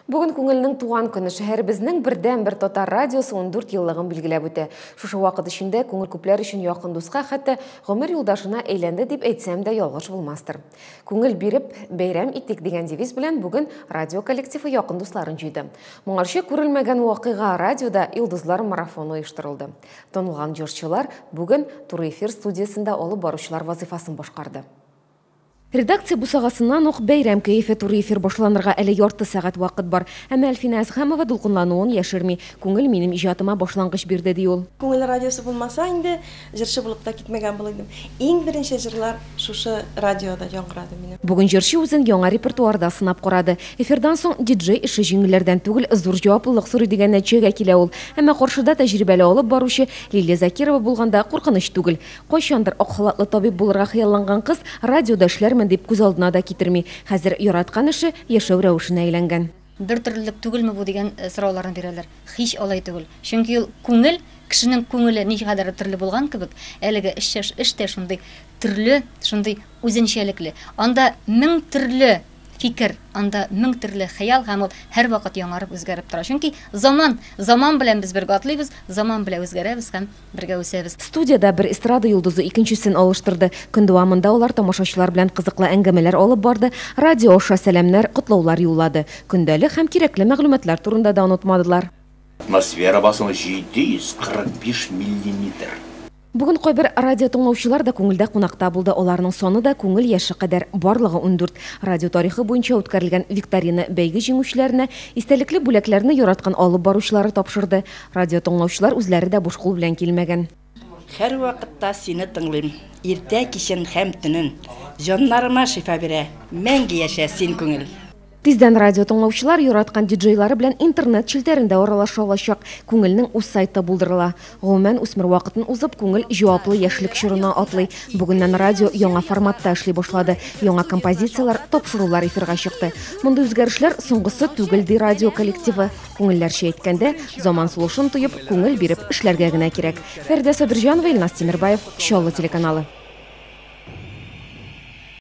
Бүген күңелнең туган көне шәһәребезнең бердән бер татар радиосы 14 еллыгын билгеләп үтә. Шушы вакыт эчендә күңел күпләр өчен якын дуска, хәтта гомер юлдашына әйләнде дип әйтсәм дә ялгыш булмастыр. Күңел биреп, бәйрәм итик дигән девиз белән бүген радио коллективы якын дусларын җыйды. Моңарчы күрелмәгән вакыйга радиода Илдызлар марафоны оештырылды. Танылган җырчылар бүген туры эфир студиясендә алып баручылар вазыйфасын башкарды. Редакция бусагасыннан ук бәйрәм кәефе туры эфир башланырга әле ярты сәгать вакыт бар. Әмма Әлфинә Әзһәмова дулкынлануын яшерми. Күңел минем иҗатыма башлангыч бирде, ди ул. Күңел радиосы булмаса инде, җырчы булып та китмәгән булыр идем. Иң беренче җырлар шушы радиода яңгырады минем. Бүген җырчы үзен яңа репертуарда сынап карады. Эфирдан соң диджей эше җиңелләрдән түгел, зур җаваплылык сорый дигән нәтиҗәгә килә ул. Әмма каршыда тәҗрибәле алып баручы Лилия Закирова булганда куркыныч түгел. Кайчандыр ак халатлы табиб булырга хыялланган кыз радиода эшләрмен дип күз алдына да китерми. Хәзер яраткан эше яшәү рәвешенә әйләнгән. Бер төрлелек түгелме бу дигән сорауларны бирәләр. Һич алай түгел. Чөнки ул күңел, кешенең күңеле ничегәдер төрле булган кебек, әлеге эш тә шундый төрле, шундый үзенчәлекле. Анда мең төрле фикер, анда мең төрле хыял һәм ул һәрвакыт яңарып, үзгәреп тора. Чөнки заман, заман белән без бергә атлыйбыз, заман белән үзгәрәбез һәм. Бергә үсәбез. Студиядә бер эстрада йолдызы икенчесен алыштырды. Көн дәвамында алар тамашачылар белән кызыклы әңгәмәләр алып барды, радио аша сәламнәр, котлаулар юллады. Көндәлек һәм кирәкле мәгълүматлар турында да онытмадылар. Атмосфера басымы 745 миллиметр. Бүген кайбер радиотыңлаучылар да күңелдә кунакта булды. Аларның саны да күңел яше кадәр, барлыгы ундүрт. Радио тарихы буенча үткәрелгән викторина бәйге җиңүчеләренә истәлекле бүләкләрне яраткан алып баручылары тапшырды. Радио тыңлаучылар үзләре дә буш кул белән килмәгән. Һәрвакытта сине тыңлыйм, иртә кичен һәм төнен. Җаннарыма шифа бирә, мәңге яшә син күңел. Тиздән радио тыңлаучылар яраткан диджейлары белән интернет челтәрендә аралаша алачак. Күңелнең үз сайты булдырыла. Гомумән, үсмер вакытын узып, күңел җаваплы яшьлек чорына атлый. Бүгеннән радио яңа форматта эшли башлады. Яңа композицияләр, тапшырулар эфирга чыкты. Мондый үзгәрешләр соңгысы түгел, ди радио коллективы. Күңелләрчә әйткәндә, заман сулышын тоеп, күңел биреп эшләргә генә кирәк. Фәридә Сабирҗанова, Илназ Тимербаев, Чаллы телеканалы.